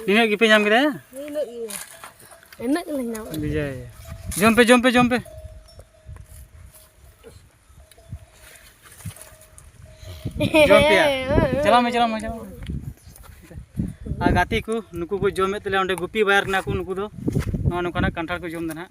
ᱱᱤᱱᱟᱹᱜ ᱜᱮᱯᱮ ᱧᱟᱢ ᱠᱮᱫᱟ ᱱᱤᱱᱟᱹᱜ ᱜᱮ ᱤᱱᱟᱹᱜ ᱜᱮᱞᱮ ᱧᱟᱢ ᱠᱮᱫᱟ ᱵᱤᱡᱚᱭ ᱡᱚᱢ ᱯᱮ ᱡᱚᱢ ᱯᱮ ᱡᱚᱢ ᱯᱮ ᱡᱚᱢ ᱯᱮ ᱪᱟᱞᱟᱣ ᱢᱮ ᱪᱟᱞᱟᱣ ᱢᱮ ᱪᱟᱞᱟᱣ ᱢᱮ ᱟᱨ ᱜᱟᱛᱮ ᱠᱚ ᱱᱩᱠᱩ ᱠᱚ ᱡᱚᱢᱮᱫ ᱛᱟᱞᱮᱭᱟ ᱚᱸᱰᱮ ᱜᱩᱯᱤ ᱵᱟᱭᱟᱨ ᱠᱟᱱᱟ ᱠᱚ ᱱᱩᱠᱩ ᱫᱚ ᱱᱚᱜᱼᱚ ᱱᱚᱝᱠᱟᱱᱟᱜ ᱠᱟᱱᱴᱷᱟᱲ ᱠᱚ ᱡᱚᱢᱫᱟ ᱱᱟᱦᱟᱜ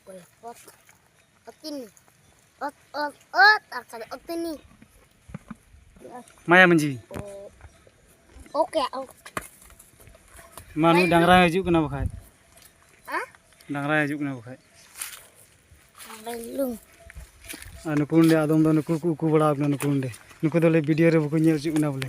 ᱚᱠᱚᱭ ᱚᱛ ᱚᱛᱤᱱᱤ ᱚᱛ ᱚᱛ ᱚᱛ ᱟᱨ ᱠᱟᱫᱟ ᱚᱛᱤᱱᱤ ᱢᱟᱭᱟ ᱢᱟᱹᱡᱷᱤ ᱚᱠᱮ ᱢᱟ ᱱᱩᱭ ᱰᱟᱝᱨᱟ ᱦᱤᱡᱩᱜ ᱠᱟᱱᱟ ᱵᱟᱠᱷᱟᱡ ᱰᱟᱝᱨᱟ ᱦᱤᱡᱩᱜ ᱠᱟᱱᱟ ᱵᱟᱠᱷᱟᱡ ᱟᱨ ᱱᱩᱠᱩ ᱱᱚᱰᱮ ᱟᱫᱚᱢ ᱫᱚ ᱱᱩᱠᱩ ᱠᱚ ᱩᱠᱩ ᱵᱟᱲᱟ ᱟᱠᱟᱱᱟ ᱱᱩᱠᱩ ᱱᱚᱰᱮ ᱱᱩᱠᱩ ᱫᱚᱞᱮ ᱵᱷᱤᱰᱤᱭᱳ ᱨᱮ ᱵᱟᱠᱚ ᱧᱮᱞ ᱦᱚᱪᱚᱜ ᱠᱟᱱᱟ ᱵᱚᱞᱮ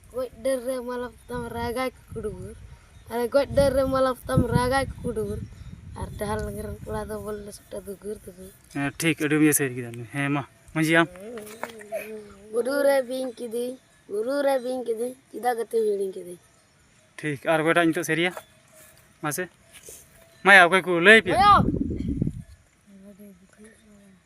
ᱜᱚᱡ ᱰᱟᱹᱨ ᱨᱮ ᱢᱟᱞᱟ ᱯᱚᱛᱟᱢ ᱨᱟᱜᱟᱭ ᱠᱩᱠᱩᱰᱩᱵᱩᱨ ᱟᱨᱮ ᱜᱚᱡ ᱰᱟᱹᱨ ᱨᱮ ᱢᱟᱞᱟ ᱯᱚᱛᱟᱢ ᱨᱟᱜᱟᱭ ᱠᱩᱠᱩᱰᱩᱵᱩᱨ ᱟᱨ ᱰᱟᱦᱟᱨ ᱞᱟᱸᱜᱽᱲᱮ ᱨᱮᱱ ᱠᱚᱲᱟ ᱫᱚ ᱵᱚᱞ ᱮᱱᱮᱡ ᱥᱚᱴᱮ ᱫᱩᱜᱩᱨ ᱫᱩᱜᱩᱨ ᱦᱮᱸ ᱴᱷᱤᱠ ᱟᱹᱰᱤ ᱵᱮᱥ ᱦᱮᱡ ᱠᱮᱫᱟ ᱦᱮᱸ ᱢᱟ ᱢᱟᱺᱡᱷᱤ ᱟᱢ ᱵᱩᱨᱩ ᱨᱮ ᱵᱤᱧ ᱠᱤᱫᱤᱧ ᱵᱩᱨᱩ ᱨᱮ ᱵᱤᱧ ᱠᱤᱫᱤᱧ ᱪᱮᱫᱟᱜ ᱜᱟᱛᱮᱢ ᱦᱤᱲᱤᱧ ᱠᱤᱫᱤᱧ ᱴᱷᱤᱠ ᱟᱨ ᱚᱠᱚᱭᱴᱟᱜ ᱱᱤᱛᱚᱜ ᱥᱮᱨᱮᱭᱟ ᱢᱟᱥᱮ ᱢᱟᱭᱟ ᱚᱠᱚᱭ ᱠᱚ ᱞᱟᱹᱭ ᱯᱮ